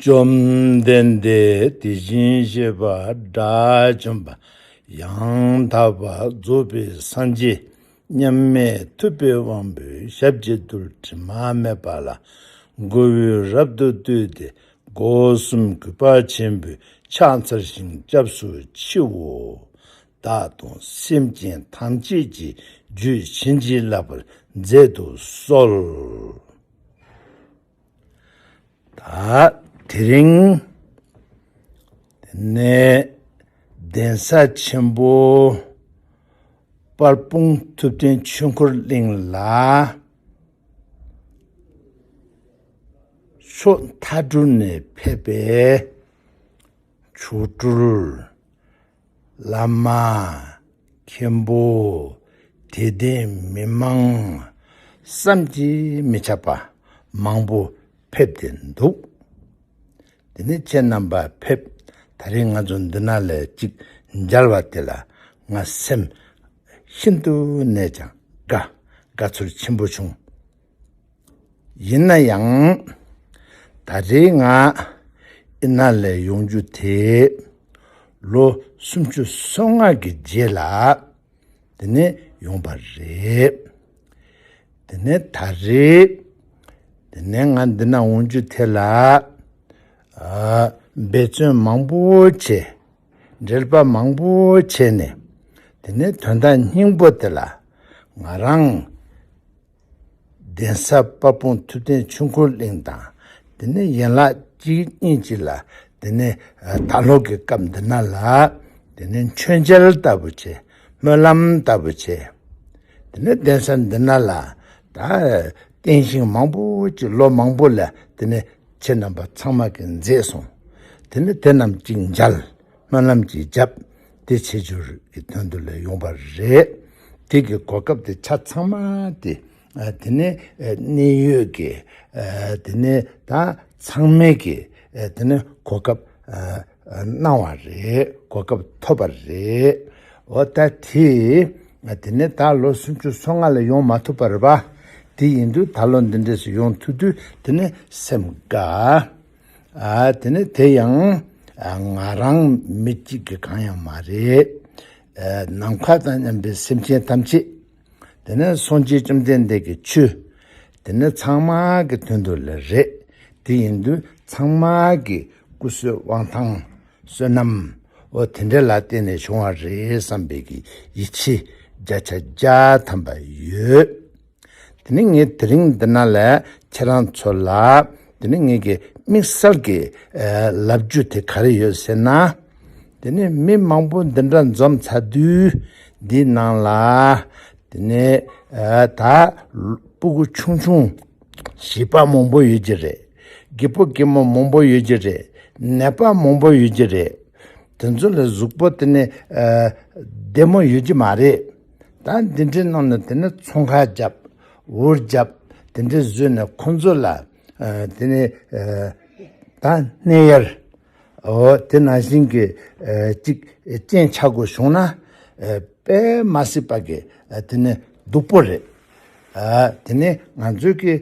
བཅོམ་ལྡན་འདས་དེ་བཞིན་གཤེགས་པ་དགྲ་བཅོམ་པ་ཡང་དག་པར་རྫོགས་པའི་སངས་རྒྱས་མཉམ་མེད་ཐུབ་པའི་དབང་པོའི་ཞབས་ཀྱི་རྡུལ་དྲི་མ་མེད་པ་ལ་མགོ་བོས་རབ་ཏུ་བཏུད་དེ་སྒོ་གསུམ་གུས་པ་ཆེན་པོས་ཕྱག་འཚལ་ཞིང་སྐྱབས་སུ་མཆིའོ། བདག་དང་སེམས་ཅན་ཐམས་ཅད་ཀྱི་རྒྱུད་བྱིན་གྱིས་བརླབས་པར་མཛད་དུ་གསོལ། ད་དེ་རིང་ནས་གདན་ས་ཆེན་པོ་དཔལ་སྤུངས་ཐུབ་བསྟན་ཆོས་འཁོར་གླིང་ལ་ཕྱོགས་མཐའ་དྲུག་ནས་ཕེབས་པའི་མཆོག་སྤྲུལ། བླ་མ། མཁན་པོ། དད་ལྡན་མི་མང། བསམ་གྱིས་མི་ཁྱབ་པ་མང་པོ་ཕེབས་ཏེ་འདུག། དེ་ནས་ཁྱེད་རྣམ་པ་ཕེབས་ད་རེས་ང་ཚོ་འདི་ན་ལས་ཅིག་མཇལ་བ་དེ་ལ་ང་སེམས་ཤིན་ཏུ་ནས་ཀྱང་དགའ་དགའ་ཚོར་ཆེན་པོ་བྱུང། ཡིན་ན་ཡང། ད་རེའི་ང་ཨི་ན་ལའི་ཡོང་རྒྱུ་དེ་ལོ་སུམ་ཅུ་སོ་ལྔ་གི་རྗེས་ལ་དེ་ནས་ཡོང་པ་རེད། དེ་ནས་ད་རེ། དེ་ནས་ང་འདི་ན་འོང་རྒྱུ་དེ་ལ་འབད་བརྩོན་མང་པོ་བྱས། འགྲེལ་པ་མང་པོ་བྱས་ནས་དེ་ནས་དོན་དག་སྙིང་པོ་དེ་ལ་ང་རང། གདན་ས་དཔའ་སྤུངས་ཐུབ་བསྟན་ཆུ་འཁོར་གླིང་དང་དེ་ནས་ཡན་ལག་གཅིག་གཉིས་གཅིག་ལ་དེ་ནས་ད་ལྷོ་གི་སྐབས་འདི་ན་ལ་དེ་ནས་མཆོད་མཇལ་ལྟ་བུ་བྱས་སྨོན་ལམ་ལྟ་བུ་བྱས་དེ་ནས་གདན་ས་འདི་ན་ལ་ད་རྟེན་ཞིང་མང་པོ་བྱས་ལོ་མང་པོ་ལ་དེ་ནས་ཁྱེད་རྣམས་པ་ཚང་མ་གིས་མཛད་སོང་དེ་ནས་དེ་རྣམས་གཅིག་མཇལ། སྨོན་ལམ་གྱི་རྒྱབ། དེ་ཆེ་བསྒྱུར་གྱི་དོན་དུ་ལས་ཡོང་བ་རེད། དེ་གི་གོ་སྐབས་དེ་ཆ་ཚང་མ་དེ། དེ་ནི་གནད་ཡོད་ཀྱི། དེ་ནི་ད་ཚང་མེད་ཀྱི། དེ་ནི་གོ་སྐབས་གནང་བ་རེད། གོ་སྐབས་ཐོབ་པ་རེད། འོ་ད་དེ། དེ་ནི་ད་ལོ་སུམ་ཅུ་སོ་ལྔ་ལ་ཡོང་མ་ཐུབ་པར་བ། དེ་ཡིན་དུས་ད་ལོ་འདི་འདྲས་སུ་ཡོང་ཐུབ་དུས་དེ་ནི་སེམས་དགའ། དེ་ནི་དེ་ཡང་ང་རང་མི་གཅིག་གི་གང་ཡང་མ་རེད། ནམ་མཁའ་དང་མཉམ་པའི་སེམས་ཅན་ཐམས་ཅད། དེ་ནི་སངས་རྒྱས་བཅོམ་ལྡན་འདས་ཀྱི་ཆོས། དེ་ནི་ཚང་མ་གི་དོན་དུ་ལ་རེད། དེ་ཡིན་དུས་ཚང་མ་གི་སྐུ་བསོད་དབང་ཐང་བསོད་ནམས་འོ་དེ་འདྲ་ལ་བརྟེན་ནས་བྱུང་བ་རེད་བསམ་པའི་གི་ཡིད་ཆེས་རྒྱ་ཆ་རྒྱ་ཐམ་པ་ཡོད། དེ་ནི་ངས་དེ་རིང་འདི་ན་ལས་ཁྱེད་རང་ཚོ་ལ་དེ་ནི་ངེད་ཀྱི་དམིགས་བསལ་གྱི་ལབ་རྒྱུ་དེ་ག་རེ་ཡོད་ཟེར་ན། དེ་ནི་མི་མང་པོ་འདི་འདྲ་འཛོམས་ཚ་དུས་འདིའི་ནང་ལ་དེ་ནི་ད་སྤུ་གུ་ཆུང་ཆུང་བྱིས་པ་མང་པོ་ཡོད་ཀྱི་རེད། རྒད་པོ་རྒད་མོ་མང་པོ་ཡོད་ཀྱི་རེད། ནད་པ་མང་པོ་ཡོད་ཀྱི་རེད། དེ་ཚོ་ལ་གཟུགས་པོ་དེ་ནི་བདེ་མོ་ཡོད་ཀྱི་མ་རེད། ད་འདི་འདྲའི་གནང་ནས་དེ་ནས་ཚོང་ཁ་བརྒྱབ། འུར་བརྒྱབ། དེ་འདྲའི་བཟོས་ནས་ཁོང་ཚོ་ལ། དེ་ནས། ད་སྣེ་གཡར། འོ་དེ་ནང་བཞིན་གྱི། ཅིག་རྐྱེན་ཆགས་དགོས་བྱུང་ན། དཔེ་མ་སྲིད་པ་གི་དེ་ནས་སྡུག་པོ་རེད། དེ་ནས་ང་ཚོའི་གི།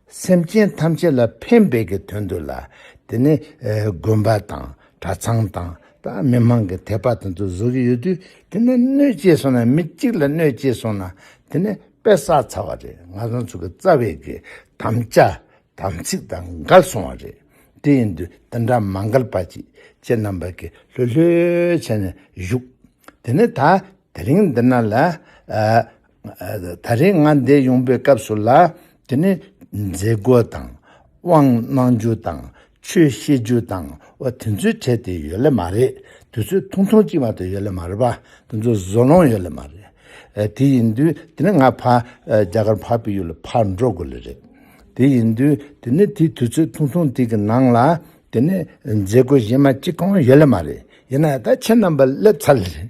སེམས་ཅན་ཐམས་ཅད་ལ་ཕན་འབེལ་གྱི་དོན་དུ་ལ་དེ་ནི་དགོན་པ་དང་གྲྭ་ཚང་དང་མི་མང་གི་དད་པ་དང་དུ་བཟོ་གི་ཡོད་དུས་དེ་ནི་གནོད་བྱེད་སོང་ན་མི་གཅིག་ལ་གནོད་བྱེད་སོང་ན་དེ་ནི་དཔེ་བསགས་ཚར་བ་རེད་ང་ཚང་ཚུར་གི་རྩ་བའི་གི་དམ་བཅའ་དམ་ཚིག་དང་འགལ་སོང་བ་རེད་དེ་ཡིན་དུས་དེ་འདྲ་མ་འགལ་པ་ཅིག་ཁྱེད་རྣམ་པ་གི་ལྷོད་ལྷོད་བྱས་ནས་བཞུགས་དེ་ནི་ད་དེ་རིང་འདི་ན་ལ་ད་རེས་ང་འདས་ཡོང་པའི་སྐབས་སུ་ལ་དེ་ནི་མཛད་སྒོ་དང་དབང་གནང་རྒྱུ་དང་ཆོས་བཤད་རྒྱུ་དང་བ་དེ་ཚོའི་གྲས་དེ་ཡོད་ལེ་མ་རེད་དུས་ཚོད་ཐུང་ཐུང་ཅིག་མ་ཏོ་ཡོད་ལེ་མ་རེད་བ་དེ་ཚོ་བཟོ་ལོང་ཡོད་ལེ་མ་རེད་དེ་ཡིན་དུས་དེ་ནི་ང་ཕ་རྒྱ་གར་འཕགས་པའི་ཡུལ་ལ་ཕར་འགྲོ་དགོས་ལེ་རེད་དེ་ཡིན་དུས་དེ་ནི་དེའི་དུས་ཚོད་ཐུང་ཐུང་དེ་གི་ནང་ལ་དེ་ནི་མཛད་སྒོ་གཞན་མ་གཅིག་གང་ཡོད་ལེ་མ་རེད་ཡིན་ན་ད་ཁྱེད་རྣམ་པ་སླེབས་ཚར་ལེ་རེད།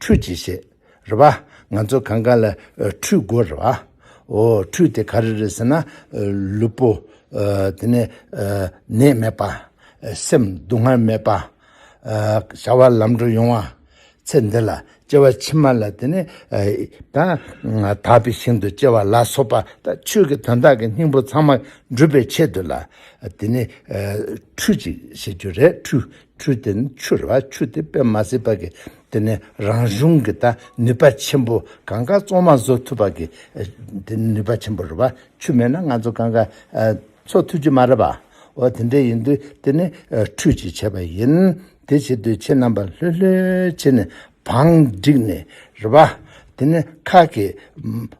ཁྲུས་གྱིས་ཤིག། རེ་བ། ང་ཚོ་གང་གང་ལ་ཁྲུས་དགོས་རེ་བ། འོ། ཁྲུས་དེ་ག་རེ་རེད་ཟེར་ན། ལུས་པོ། དེ་ནས། ནད་མེད་པ། སེམས་སྡུག་བསྔལ་མེད་པ། བྱ་བ་ལམ་འགྲོ་ཡོང་བ། ཚེ་འདི་ལ་སྐྱེ་བ་ཕྱི་མ་ལ་དེ་ནས། དག་པའི་ཞིང་དུ་སྐྱེ་བ་ལ་སོགས་པ་དང་ཆོས་ཀྱི་དོན་དག་གི་སྙིང་པོ་ཚང་མ་འགྲུབ་པའི་ཆེད་དུ་ལ། དེ་ནས། ཁྲུས་གྱིས་ཤིག་ཅེས་རེད་ཁྲུས་ཁྲུས་དེ་ནི་ཆུ་ལ་ཆུ་དེ་དཔེ་མ་ཟིན་པ་གི་དེ་ནི་རང་གཞུང་གི་དང་ནུས་པ་ཆེན་པོ་གང་ག་བཙོ་མ་བཟོ་ཐུབ་པ་གི་དེ་ནུས་པ་ཆེན་པོ་རེད་བ་ཆུ་མེད་ན་ང་ཚོ་གང་ག་འཚོ་ཐུབ་ཀྱི་མ་རེད་བ་འོ་དེ་འདྲས་ཡིན་དུས་དེ་ནི་ཁྲུས་ཀྱི་བྱས་པ་ཡིན་དེ་བྱེད་དུས་ཁྱེད་རྣམ་པ་ལྷོད་ལྷོད་བྱེད་ནས་བང་བསྒྲིགས་ནས་རེད་བ་དེ་ནི་ཁག་གི་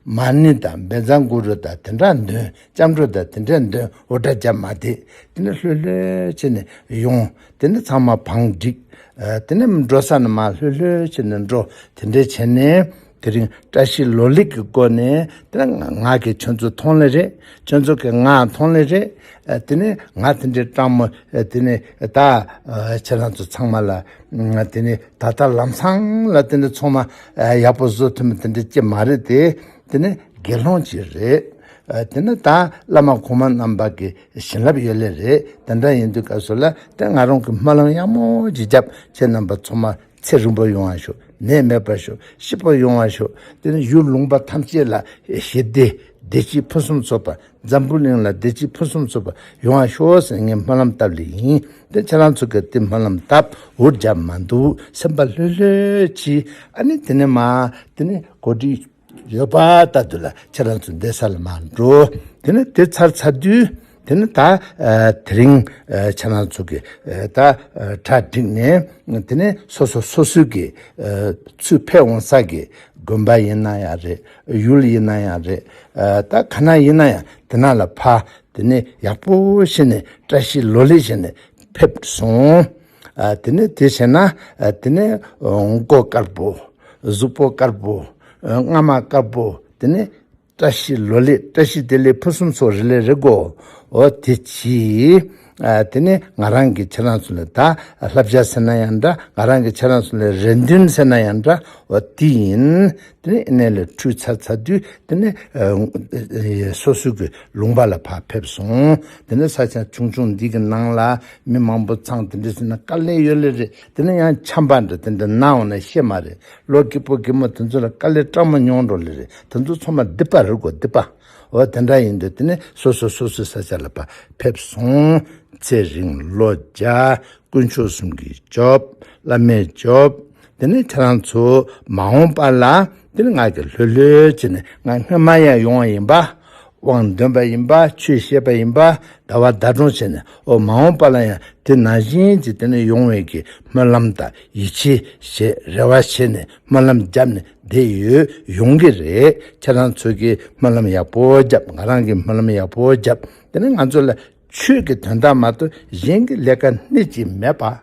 མ་ཎི་དང་འབེན་ཚང་གུ་རུ་དང་དེ་འདྲ་འདོན་སྐྱབས་འགྲོ་དང་དེ་འདྲའི་འདོན་འོ་སྒྲ་བརྒྱབ་མ་དེ་དེ་ནས་ལྷོད་ལྷོད་བྱས་ནས་ཡོང་དེ་ནས་ཚང་མ་བང་བསྒྲིགས། དེ་ནས་འགྲོ་ས་ན་མ་ལྷོད་ལྷོད་བྱས་ནས་འགྲོ་དེ་འདྲས་བྱས་ནས་དེ་རིང་བཀྲ་ཤིས་ལོ་ལེགས་ཀྱི་སྒོ་ནས་དེ་ནས་ང་གི་ཁྱོད་ཚོ་མཐོང་ལེ་རེད་ཁྱོད་ཚོ་གི་ང་མཐོང་ལེ་རེད་དེ་ནས་ང་དེ་འདྲས་སྤྲང་མོ་དེ་ནས་ད་ཁྱེད་རང་ཚོ་ཚང་མ་ལ་དེ་ནས་ད་ལྟ་ལམ་སང་ལ་དེ་འདྲས་ཚོང་མ་ཡག་པོ་བཟོ་ཐུབ་མེད་དེ་འདྲས་ཀྱི་མ་རེད་དེ་དེ་ནས་དགེ་སློང་གཅིག་རེད། དེ་ནི་ད་བླ་མ་གོང་མ་རྣམས་བར་གྱི་བྱིན་རླབས་ཡོད་ལེ་རེད་དེ་འདྲ་ཡིན་དུས་སྐབས་སུ་ལ་དེ་ང་རང་གི་སྨོན་ལམ་གཡང་མོ་ཅིག་རྒྱབ་ཁྱེད་རྣམས་པ་ཚོ་མ་ཚེ་རིང་པོ་ཡོང་བ་ཤོག་ནད་མེད་པ་ཤོག་ཤི་པོ་ཡོང་བ་ཤོག་དེ་ནས་ཡུལ་ལུང་པ་ཐམས་ཅད་ལ་ཞི་བདེ་བདེ་སྐྱིད་ཕུན་སུམ་ཚོགས་པ་འཛམ་བུ་གླིང་ལ་བདེ་སྐྱིད་ཕུན་སུམ་ཚོགས་པ་ཡོང་བ་ཤོག་ཟེར་ངས་སྨོན་ལམ་བཏབ་ལེ་ཡིན་དེ་ཁྱེད་རང་ཚོ་གི་དེ་སྨོན་ལམ་བཏབ་འུར་རྒྱབ་མ་འདུག་སེམས་པ་ལྷོད་ལྷོད་ཀྱིས་ཨ་ནི་དེ་ནས་མ་དེ་ནས་གོ་སྒྲིག། ཡོད་པ་ལྟ་དུས་ལ་ཁྱེད་རང་ཚོ་འདས་ས་ལ་མ་འགྲོ། དེ་ནི་དེ་ཚར་ཚར་དུས་དེ་ནི་ད་དེ་རིང་ཁྱེད་རང་ཚོ་གི་ད་གྲ་སྒྲིག་ནས་དེ་ནི་སོ་སོ་སོ་སོའི་གི་ཚུར་ཕེབས་འོང་ས་གི་དགོན་པ་ཡིན་ན་ཡང་རེད་ཡུལ་ཡིན་ན་ཡང་རེད་ད་ག་ན་ཡིན་ན་ཡང་དེ་ན་ལ་ཕ་དེ་ནི་ཡག་པོ་བྱེད་ནས་བཀྲ་ཤིས་ལོ་ལེགས་བྱེད་ནས་ཕེབས་སོང། དེ་ནས་དེ་བྱས་ན་དེ་ནས་མགོ་དཀར་པོ། གཟུགས་པོ་དཀར་པོ། རྔ་མ་དཀར་པོ། དེ་ནས་བཀྲ་ཤིས་ལོ་ལེགས་བཀྲ་ཤིས་བདེ་ལེགས་ཕུན་སུམ་ཚོགས་རི་ལས་རེ་བགོ། དེ་གྱིས། དེ་ནས་ང་རང་གི་ཁྱེད་རང་ཚོ་ལས་ད་ལྷ་བྱ་ཟེར་ན་ཡང་འདྲ་ང་རང་གི་ཁྱེད་རང་ཚོ་ལས་རེ་འདུན་ཟེར་ན་ཡང་འདྲ་འོ་དེ་ཡིན། དེ་ནས་གནས་ལ་ཁྲུས་ཚར་ཚར་དུས་དེ་ནས་སོ་སོའི་གི་ལུང་པ་ལ་བག་ཕེབས་སོང། དེ་ནས་ས་ཆ་ཆུང་ཆུང་འདི་གི་ནང་ལ་མི་མང་པོ་ཚང་དེ་འདྲས་ཟིན་ན་དཀའ་ལས་ཡོད་ལེ་རེད་དེ་ནས་ཡང་འཁྱམ་པ་འདྲ་དེ་འདྲ་སྣང་བ་ན་ཤེས་མ་རེད་ལོ་སྐྱིད་པོ་སྐྱིད་མོ་དེ་ཚོ་ལ་དཀའ་ལས་སྐྲག་མ་མྱོང་འགྲོ་ལེ་རེད་དེ་ཚོ་ཚོ་མ་སྡིག་པ་རེད་གོ་སྡིག་པ་འོ་དེ་འདྲ་ཡིན་དུས་དེ་ནས་སོ་སོ་སོ་སོའི་ས་ཆ་ལ་བག་ཕེབས་སོང། ཚེ་རིང་བློ་རྒྱ་དཀོན་མཆོག་གསུམ་གྱི་ཇོབ་བླ་མའི་ཇོབ། དེ་ནས་ཁྱེད་རང་ཚོ་མ་འོངས་པ་ལ་འདིར་ང་གིས་ལྷོད་ལྷོད་ཅིག་ནས་ང་སྔོན་མ་ཡང་ཡོང་བ་ཡིན་པ། དབང་འདོན་པ་ཡིན་པ་ཆོས་ཤེས་པ་ཡིན་པ་ཟླ་བ་ཟླ་གྲོང་བྱས་ནས་འོ་མ་འོངས་པ་ལ་ཡང་དེ་ནང་བཞིན་གྱི་དེ་ནས་ཡོང་བའི་གི་སྨོན་ལམ་དང་ཡིད་ཆེས་ཞེས་རེ་བ་བྱས་ནས་སྨོན་ལམ་བརྒྱབ་ནས་བསྡད་ཡོད་ཡོང་གི་རེད་ཁྱེད་རང་ཚོ་གིས་སྨོན་ལམ་ཡག་པོ་བརྒྱབ་ང་རང་གིས་སྨོན་ལམ་ཡག་པོ་བརྒྱབ་དེ་ནས་ང་ཚོ་ལ་ཆོས་ཀྱི་དོན་དག་མ་གཏོགས་གཞན་གྱི་ལས་ཀ་སྣེ་གཅིག་མེད་པ།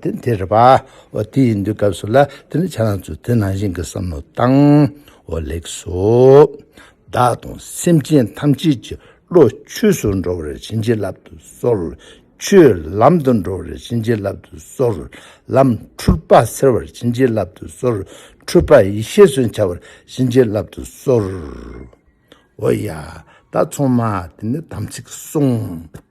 དེ་དེ་རེད་པ། དེ་ཡིན་དུས་སྐབས་སུ་ལ་དེ་ནི་བྱ་རང་ཚོས་དེ་ནང་བཞིན་གྱི་བསམ་བློ་བཏང། འོ་ལེགས་སོ། བདག་དང་སེམས་ཅན་ཐམས་ཅད་ཀྱི་བློ་ཆོས་སུ་འགྲོ་བར་བྱིན་གྱིས་བརླབ་ཏུ་གསོལ། ཆོས་ལམ་དུ་འགྲོ་བར་བྱིན་གྱིས་བརླབ་ཏུ་གསོལ། ལམ་འཁྲུལ་པ་སེལ་བར་བྱིན་གྱིས་བརླབ་ཏུ་གསོལ། འཁྲུལ་པ་ཡེ་ཤེས་སུ་འཆར་བར་བྱིན་གྱིས་བརླབ་ཏུ་གསོལ། འོ་ཡ། ད་ཚང་མ་དེ་ནི་དམ་ཚིག་བསྲུང།